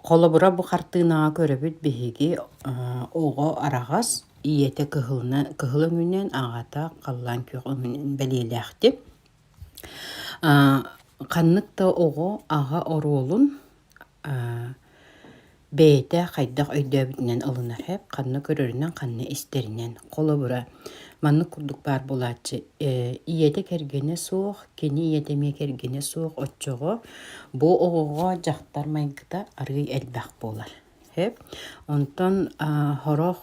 Холобура, бу хартыынаҕа көрөбүт биһиги оҕо араҕас ийэтэ кыһылына кыһыл өҥүнэн, аҕата халлаан күөх өҥүнэн бэлиэлээхтик. ханнык да оҕо аҕа оруолун бэйэтэ хайдах өйдөөбүтүнэн ылынар эбит, ханна көрөрүнэн, ханна истэринэн. Холобура, Маннык курдук баар буолааччы ийэтэ кэргэнэ суох, кини ийэтэ эмиэ кэргэнэ суох оччоҕо бу оҕоҕо дьахтар майгыта арыый элбэх буолар. Сөп? Онтон сорох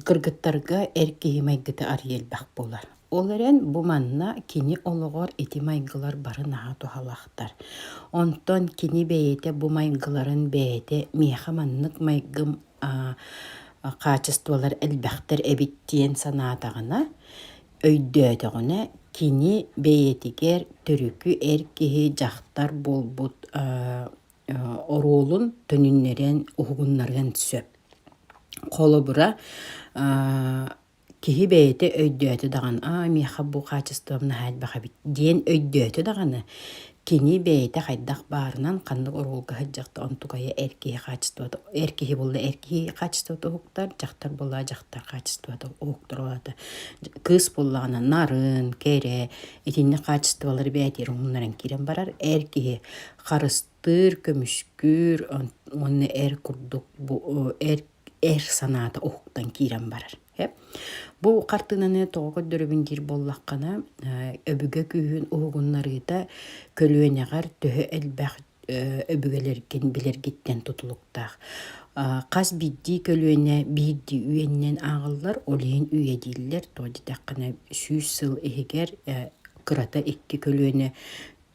кыргыттарга эр киһи майгыта арыый элбэх буолар. Ол эрэн бу манна кини олоҕор ити майгылар бары наһаа туһалаахтар. Онтон кини бэйэтэ бу майгыларын бэйэтэ миэхэ маннык майгым хаачыстыбалар элбэхтэр эбит диэн санаатаҕына, өйдөөтөҕүнэ кини бэйэтигэр төрүкү эр киһи дьахтар буолбут оруолун төнүннэрэн уһугуннарыан сөп. Холобура киһи бэйэтэ өйдөөтө даҕаны аа миэхэ бу хаачыстыбам наһаа элбэх эбит диэн өйдөөтө даҕаны кини бэйэтэ хайдах баарынан ханнык оруолга сылдьыахта онтукайа эр киһи хаачыстыбата эр киһи буолла эр киһи хаачыстыбата уһуктар дьахтар буолла дьахтар хаачыстыбата уһуктуруота кыыс буоллаҕына нарын кэрэ итинник хаачыстыбалары бэйэтигэр умуннаран киирэн барар эр киһи харыс Ытыыр, көмүскүүр уонна эр курдук бу эр эр санаата уһуктан киирэн барар. Бу хартыынаны тоҕо көрдөрөбүн диир буоллаххына, өбүгэ күүһүн уһугуннарыыта көлүөнэҕэр төһө элбэх өбүгэлэргин билэргиттэн тутулуктаах. Хас биирдии көлүөнэ биирдии үйэнэн ааҕыллар, ол иһин үйэ дииллэр. Тоҕо диэтэххинэ сүүс сыл иһигэр кырата икки көлүөнэ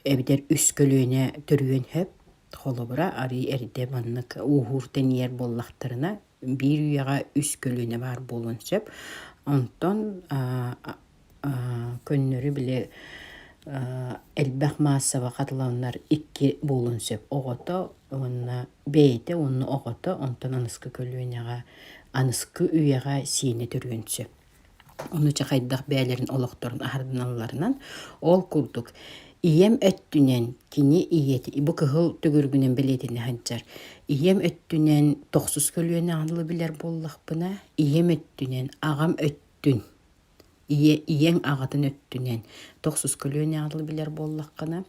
эбэтэр үс көлүөнэ төрүөн сөп. Холобура, арыый эрдэ маннык ууһуур тэнийэр буоллахтарына, биир үйэҕэ үс көлүөнэ баар буолуон сөп. Онтон көннөрү били элбэх маассаба хатыланнар икки буолуон сөп. Оҕото уонна бэйэтэ уонна оҕото, онтон аныскы көлүөнэҕэ, аныскы үйэҕэ сиэнэ төрүөн сөп. Ону чахайдах бэйэлэрин олохторун аһарыналларынан ол курдук ийэм өттүнэн кини ийэтэ бу кыһыл төгүрүгүнэн бэлиэтэнэ сылдьар ийэм өттүнэн тохсус көлүөнэ аныла билэр буоллахпына ийэм өттүнэн аҕам өттүн ийэ ийэҥ аҕатын өттүнэн тохсус көлүөнэ аныла билэр буоллаххына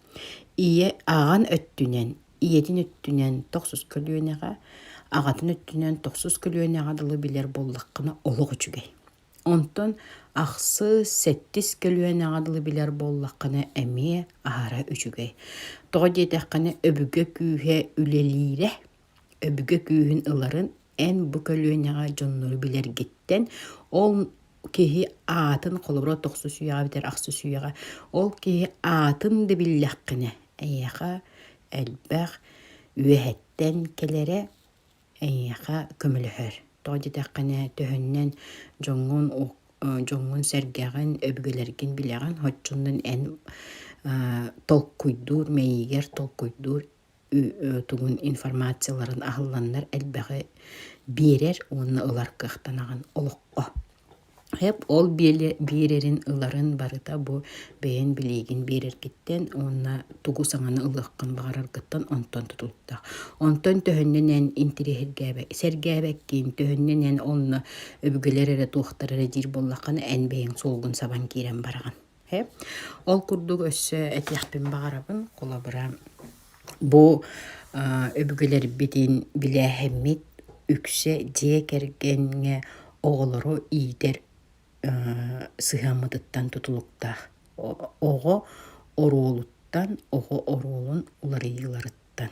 ийэ аҕаҥ өттүнэн ийэтин өттүнэн тохсус көлүөнэҕэ, аҕатын өттүнэн тохсус көлүөнэҕэ дылы билэр буоллаххына олох үчүгэй. Онтон ахсыс, сэттис көлүөнэҕэ дылы билэр буоллаххына эмиэ аһара үчүгэй. Тоҕо диэтэххинэ өбүгэ күүһэ үлэлиирэ, өбүгэ күүһүн ыларын эн бу көлүөнэҕэ дьоннору билэргиттэн ол киһи аатын холобура тохсус үйэҕэ бүтэр ахсыс үйэҕэ ол киһи аатын да биллэххинэ эйиэхэ элбэх үөһэттэн кэлэрэ эйиэхэ көмөлөһөр тоҕо диэтэххинэ төһөннөн дьоҥҥун дьоҥҥун-сэргэҕин өбүгэлэргин билэҕин оччонон эн толкуйдуур мэйиигэр толкуйдуур тугун информацияларын аһылланнар элбэҕи биэрэр уонна ылар кыахтанаҕын олоххо. ол биэрэрин ыларын барыта бу бэйэҥ билиигин биэрэргиттэн уонна тугу саҥаны ылыаххын баҕараргыттан онтон тутултах. Онтон төһөннөн эн сэргээбэккин, төһөннөн эн онно өбүгэлэр эрэ туохтара эрэ диир буоллаххына эн бэйэҥ суолгун сабан киирэн бараҕын. Ол курдук өссө этиэхпин баҕарабын, холобура, бу өбүгэлэрбитин билээһиммит үксэ дьиэ кэргэҥҥэ оҕолору иитэр сыһыаммытыттан тутулуктаах. Оҕо оруолуттан, оҕо оруолун уларыйыыларыттан.